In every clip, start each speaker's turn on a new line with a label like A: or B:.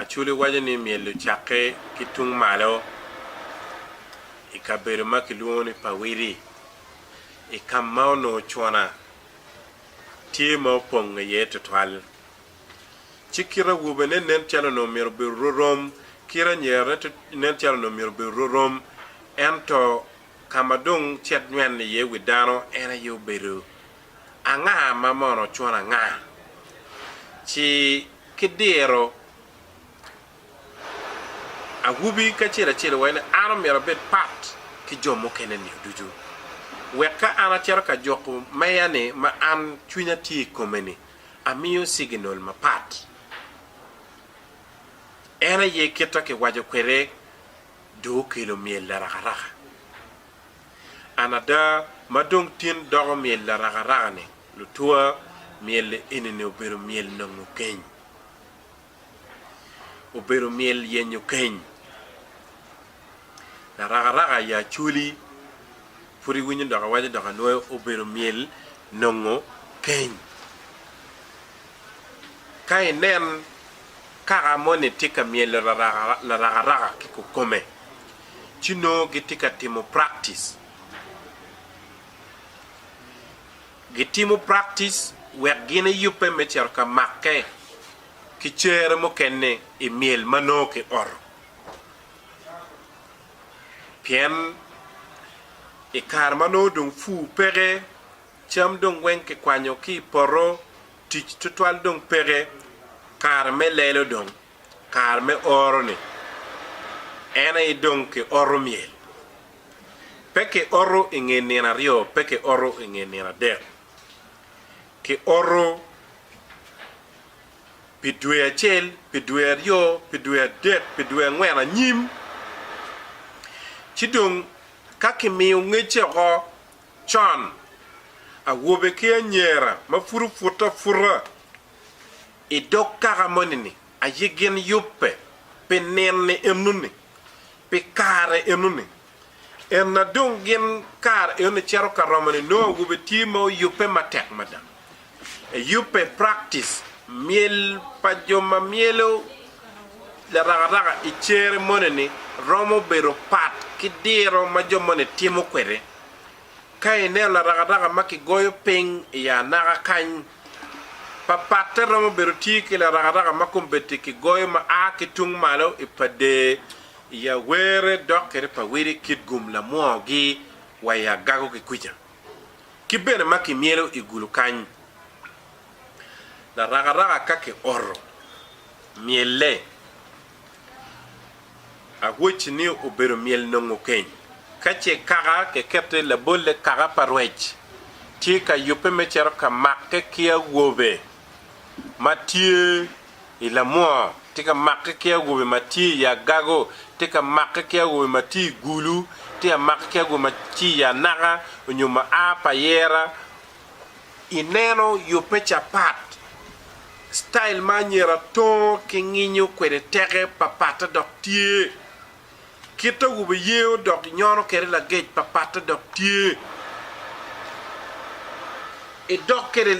A: Acholi waco ni myel ocakke ki tung malo i kabedo ma kilwongo ni Pawiri i ka ma onongo cuna tye ma opong iye tutwal. Ci kit awobene nen calo onongo myero obedo rorom, kit anyerane nen calo onongo myero obedo rorom, ento ka ma dong cet nywene iye wi dano en aye obedo Anga ma mono cwon anga? Ci ki diro awobi kacel acel iwaci ni, An omyero abed pat ki jo mukene nio ducu, wek ka an acito ka juko meya-ni ma an cwinya tye i kome-ni, amiyo ciginal mapat. En aye kit-ta kiwaco kwede, dong okelo myel larakaraka. An ada ma dong tin doko myel larakaraka-ni, lutwa, myel eni-ni obedo myel nongo keny. Obedo myel yenyo keny. Larakaraka i Acholi, pud iwinyo dok awaco dok anwoyo, obedo myel nongo keny. Ka inen kaka moni tye ka myelo larakaraka ki kukome, ci nongo gitye ka timo praktic. Gitimo praktic wek gin eyubbe me cito ka makke ki cere mukene i myel ma nongo kioto. Pien i kare ma nongo dong pur peke, cam dong weng kikwanyo ki i poto, tic tutwal dong peke, kare me lelo dong kare me oro-ni, en aye dong kioto myel. Pe kioto i nge nino aryo, pe kioto i nge nino adek. Kioto pi dwe acel, pi dwe aryo, pi dwe adek, pi dwe angwen anyim. Ci dong ka kimiyo ngecce woko con, awobe ki anyera ma pud opute aputa, I dog kaka moni-ni aye gin yubbe pi nino-ni enoni, pi kare enoni. Ena dong gin kare enoni cito ka romo-ni nongo awobe tye ma oyubbe matek mada. Eyubbe i praktis myel pa jo ma myelo larakaraka i cere moni-ni romo bedo pat ki diro ma jo moni timo kwede. Ka ineno larakaraka ma kigoyo piny i anaka kany, pa patte romo bedo tye ki larakaraka ma kombeddi kigoyo ma a ki tung malo i padee, i awere dok kede pa wede kit gum lamwogi wa i agago ki kwica, ki bene ma kimyelo i gulu kany. Larakaraka ka kioto, myelle. Awoc ni obedo myel nongo keny. Ka ce kaka kekette labolle kaka pa rwec tye ka yubbe me cito ka makke ki awobe ma tye i lamwoo, tye ka makke ki awobe ma tye i agago, tye ka makke ki awobe ma tye i gulu, tye ka makke ki awobe ma tye i anaka onyo ma a pa yera, ineno yubbe capat, style ma anyira tongo ki nginyo kwede teke papatte dok tye, kit awobe iyeyo dok inyono kwede lagec papatte dok tye, idok kwede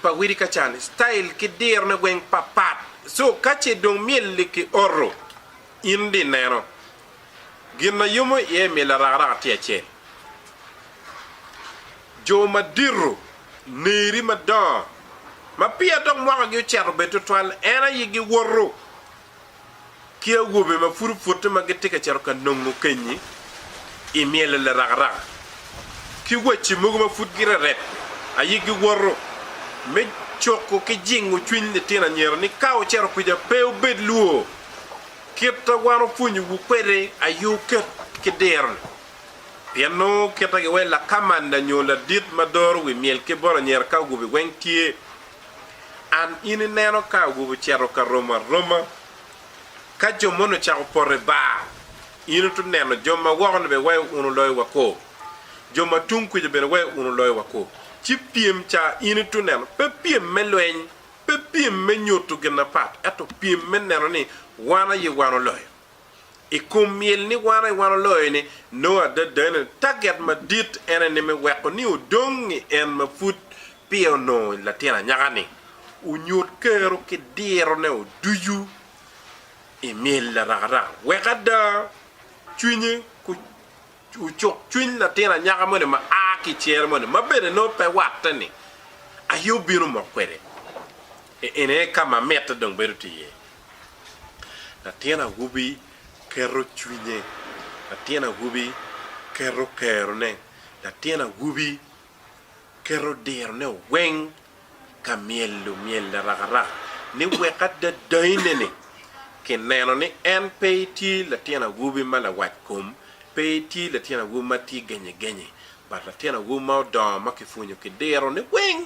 A: pa widi ka cani style ki dirone weng papat, so kace dong myel-li ki oto in di neno. Gin ma yomo iye i myel arakaraka tye acel. Jo madito, neri madongo, ma peya dok mwakagi ocito bed twatwal, en aye giwoto ki awobe ma pud opute ma gitye ka cito ka nongo kenyi i myel larakaraka, ki wacci mogo ma pud girerep aye giwoto me cuko ki jingo cwiny litino anyira ni ka wucito kwija pe wubed lwor. Kit a wan opwonyowu kwede aye oket ki diro-ni, pien nongo kite ki wai lakamanda nyo ladit ma doro wi myel ki bot anyira ka ogubi weng tye. An in ineno ka ogubi ocito ka romo aroma. Ka jo moni ocako poto i bar, in ito neno jo ma woko-ni bene wai wunu loyo wako, jo ma tung kuca bene wai wunu loyo wako. Ci pyem ca in ito neno, pe pyem me lweny. Pe pyem me nyuto gin apat, ento pyem me neno ni wan aye wan oloyo. I kom myel ni wan aye wan oloyo-ni, nongo adada ni taget madit en aye ni me weko ni odong i en ma pud peya onongo i latin anyaka-ni onyut kero ki dirone oducu i myel arakaraka, wek ada cwinye Ocuk cwiny latin anyaka moni ma a ki i cere moni, ma bene nongo pe watte, ni, Aye obino mok kwede. Eni aye ka ma mitte dong bedo tye iye. Latin awobi keto cwinye, latin awobi keto kerone, latin awobi keto dirone weng ka myelo myel arakarak ni wek ada dayine-ni ki neno ni en pe etye latin awobi ma lawac kom, pe etye latin awobi ma tye genye genye, but latin awobi ma odongo ma ki pwonyo ki diro ni weng.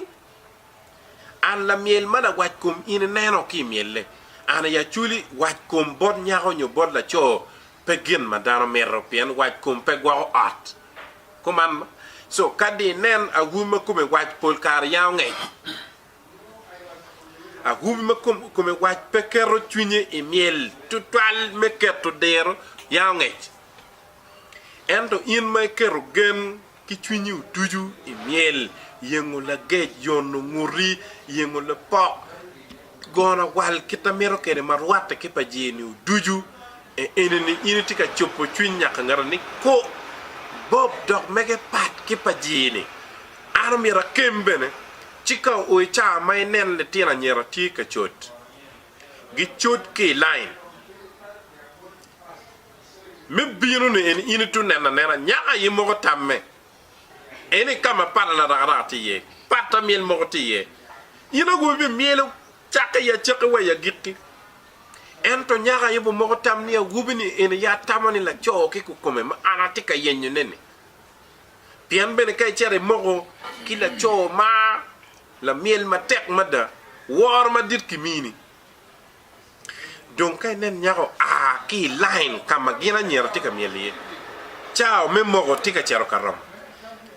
A: An lamyel ma lawac kom in ineno ki imyelle, an aye aculi, wac kom bot nyako nyo bot laco pe gin ma dano mito pien wac kom pe gwoko ot. Kuman, co kadi inen awu ma kome wac pol kare yango ngec, awu ma kome wac pe keto cwinye i myel tutwal me keto diro yango ngec. Ento in ma iketo gen ki cwinyi ducu i myel, yengo lagec, yono nguti, yengo lapok, Gono awal kit na mito kede ma rwatte ki pa jeni-wu ducu e eni ni, in itye ka cobo cwiny nyaka ngeta ni, Ku bob dok mege pat ki pa jeni. An omyero akem bene, ci ka oo i caa ma ineno litino anyira tye ka cot, gicot ki i lain me bino-ni, eni in itye oneno anena nyaka aye moko tamme. en aye ka ma pala larakaraka tye iye, pata myel moko tye iye. In ongo ibimyelo cakke i acakki wa i agikki. Ento nyako aye bo moko tam ni awobi-ni en aye atamo ni laco ki kukome ma an atye ka yenyone-ni. Pien bene ka icito imoko ki laco ma lamyel matek mada, woro madit kimini. Dong ka inen nyako a ki i lain ka ma gin anyira tye ka myel iye, cawa me moko tye ka cito ka romo.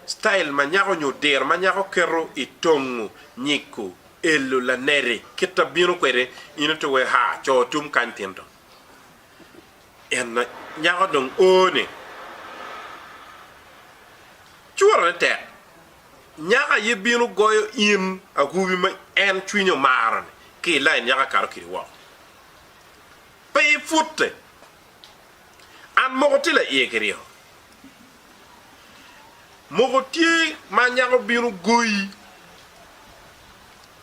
A: Citail ma nyako nyo diro ma nyako keto i tongo, nyiko, elo, laneri, kit a bino kwede, in oto wee haa, coo tum kany tinto. En nyako dong o ni, Curone tek, nyako aye bino goyo in awobi ma en cwinye omaro-ni ki i lain nyako akato kidi woko. Pe ipute. An moko tye laiye ki ryeko. Moko tye ma nyako bino goyi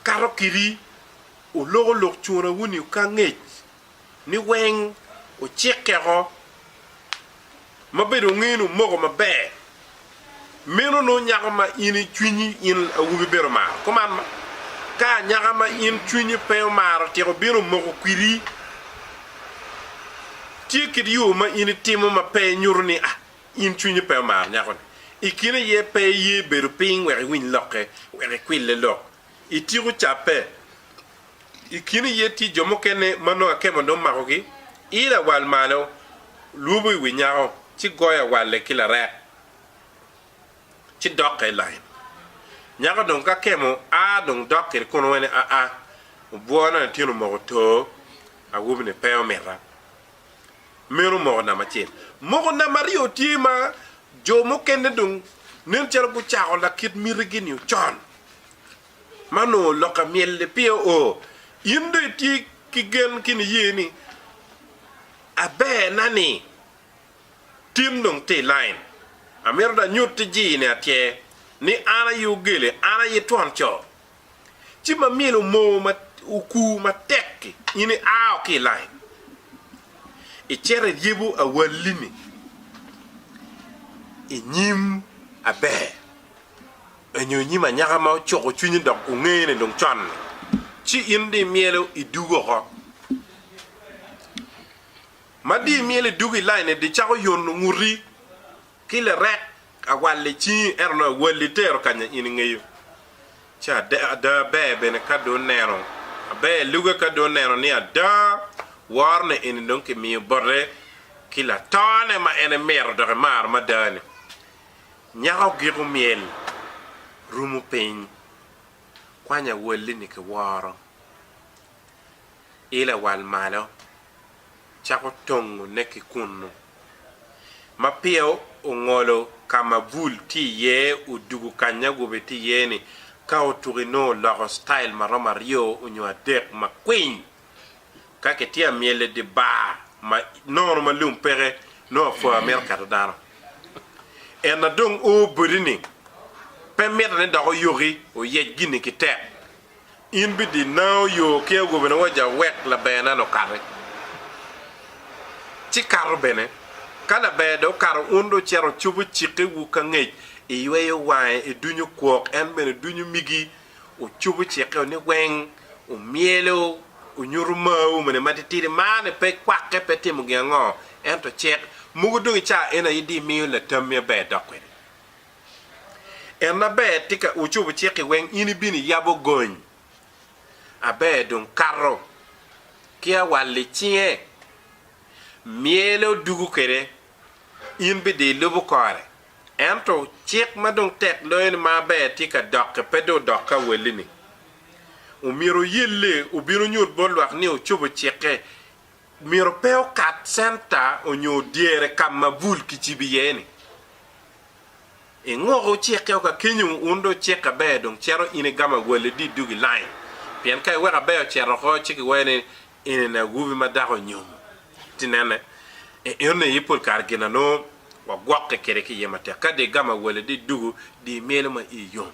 A: kato kidi oloko lok cuna wuni oka ngec. ni weng wucikkeko ma bedo ngenu omoko maber meno nongo nyako ma in i cwinyi in awobi bene omaro. Kuman ma, ka anyaka ma in cwinyi pe omaro tyeko bino omoko kwidi, tye kit yo ma in itimo ma pe nyuto ni a in cwinyi pe omaro nyako-ni. I kine aye pe iye bedo piny wek iwiny lokke, wek ikwille lok I tiku cabbe, i kin iye tye jo mukene ma nongo akemo onongo makogi, ilo awal malo, lwobo i wi nyako, ci goyo awalle ki larek, ci dokke i lain. Nyako dong ka kemo a dong dok kede kun wene aa, obwona latin omoko too, awobini pe omita. meno moko namba acel. Moko namba aryo tye ma jo mukene dong nen calo gucako lakit mitigi-ni ocon, ma onongo lokke myel-li pire oo. In dong itye ki gen ki niye ni, Aberna-ni tin dong tye i lain. Amito dong anyutti-gi ni atyee ni an aye ogele, an aye twon co, ci ma myelo moo ma okur matek-ki, in iao ki i lain, icito iryebo awalli-ni i nyim aber nyo i nyim anyaka ma ocuko cwinyi dok ongene dong con-ni, ci in dong imyelo idwogo oko. Ma dong imyelo idwogo i lain-ni, dong icako yono nguti Ki lirek awal i cingi, ento nongo awal itero kanya in ingeyo. Ci ada ada aber bene ka dong neno, aber luge ka dong neno ni ada worone eni dong kimiyo bote ki latone ma en emito dok emaro mada-ni. Nyako giko myel rumo piny, kwany awal-li-ni ki woro. i lawal malo cako tongo ne ki kunnu. Ma peya ongolo ka ma bul tye iye odugu kanya awobe tye iye ni ka otuko inongo oloko style ma romo aryo onyo adek ma kwiny. Ka ki tye amyel i di bar ma nono ma lum peke nongo apwoya mito keto dano. En na dong o boti ni pe mite ni dok oyoki oyec gini ki tek In bidinao yo ki agobina wa ja wek labernan okati. Ci kato bene, ka laber dong okato un dong cito cobo cikke wu ka ngec, iyweyo wange i dunyu kwok, en bene dunyu migi ocobo cikke wu ni weng, omyelo, onyutu mar wu mene matitidi, marne pe kwakke pe timo gin ango, ento cik. Mogo dong i caa eni aye di imiyo latammi aber dok kwede. En ma ber tika wucobo cikki weng in ibino iyabo gony? Aber dong kato ki awal i cinge, myele odugu kwede, in bidong ilubo kore. Ento cik ma dong tek loyo ni ma aber tika dokke pe dong odok ka awalli-ni. Omyero wuyelle wubin wunyut bot lwak ni wucobo cikke myero pe okat centa onyo dyere ka ma bul kicibo iye ni. I ngok wucikke o ka kenyo wun dong wucikke aber dong cito in igamo awalli dit duk i lain pien ka iweko aber ocito oko ci kiwero ni enini awobi ma dako onyomo. Ti nene, e eno aye pol kare gin anongo wagwokke kede ki iye matek. Ka dong igamo awalli dit duku di imyelo ma iyi yom.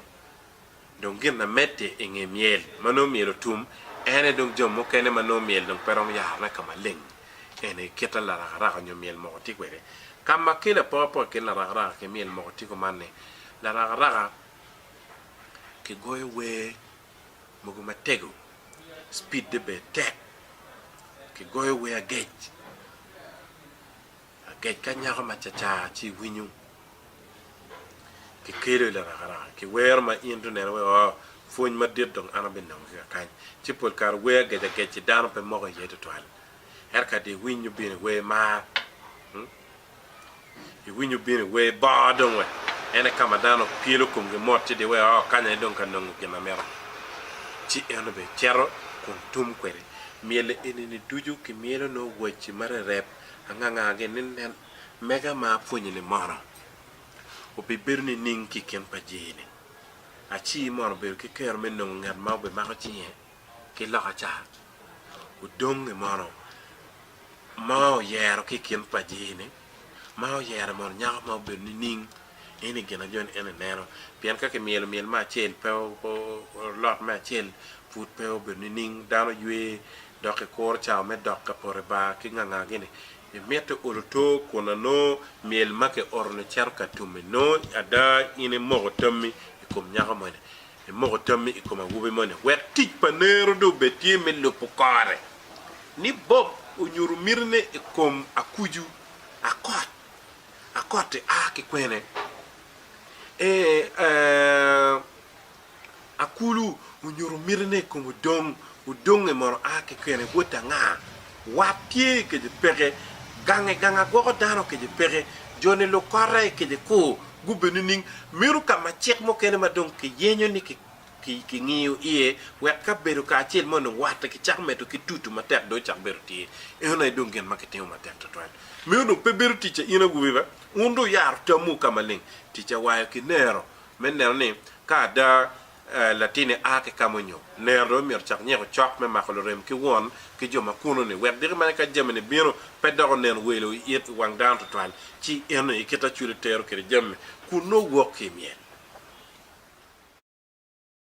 A: Dong gin na medde i nge myel ma nongo myel otum en aye dong jo mukene ma nongo myel dong pe romo yarone ka maleng. En aye kit larakaraka nyo myel moko tye kwede. Ka ma ki lapokapoka i kin larakaraka ki myel moko tye kuman ni, larakaraka ki goyo wer mogo matego, cipidde bene tek, ki goyo wer agec. Agec ka nyako ma cacar ci iwinyo ki kelo i larakaraka ki wero ma in tuneno wek oo pwony madit dong an abinongo ki kakany. Ci pol kare wer agec agec-ci dano pe moko iye tutwal. Ento kadi iwinyo bino iwer mar, iwinyo bino iwer bor dong wek en aye ka ma dano pyelo komgi mot ci giwero oo kany aye dong ka nongo gin ma mito. Ci en obicito kun tum kwede myel enini ducu kimyelo nongo wacci marereb. Anganga gini nen mega ma apwonyi ni mono obibedo nining ki i kin pa jii-ni? Aci mono obedo ki kero me nongo ngat ma obimako cinge ki loka ca? Odongi mono ma oyero ki i kin pa jii-ni ma oyere mono nyako ma obedo nining? Eni gin ajoni en ineno pien ka kimyelo myel me acel pe olot me acel pud pe obedo nining? Dano ywe dok ikuro cawa me dok ka poto i bar ki ngangagi-ni, imito olo tur kun anongo myel ma kioto-ni cito ka tum-mi. Nongo ada in imoko tammi i kom nyako moni, imoko tammi i kom awobi moni wek tic pa nero dong obed tye me lubo kore. Ni Bob onyuto mitine i kom akucu akot akot-ti a ki kwene? Ee, ee. Akulu onyuto mitine i kom odong, odonge mono a kekene bot anga? Wat tye i kece peke, gange ganga gwoko dano kece peke, joni luk kota i kece kur, gubbe nining? Meno ka ma cik mukene ma dong kiyenyo ni kingiyo iye wek kabedo kacel mo ni watte kicako medo ki tutu matek dong ocak bedo tye. Eno aye dong gin ma kitimo matek twatwal. Meno dong pe bedo ticca in awobi be? Wun dong wuyaro tamwu ka maleng. Ticca wayo ki nero Me neno ni ka ada latinni a ki ka ma onyo, nera-ri omyero ocak nyeko cok me mako lurem ki won ki jo ma kuno-ni, wek diki mene ka jami-ni bino, pe dok onen welo i it i wang dano twatwal, ci eno i kite acwili tero kwede jami, kun nongo wok ki i myel.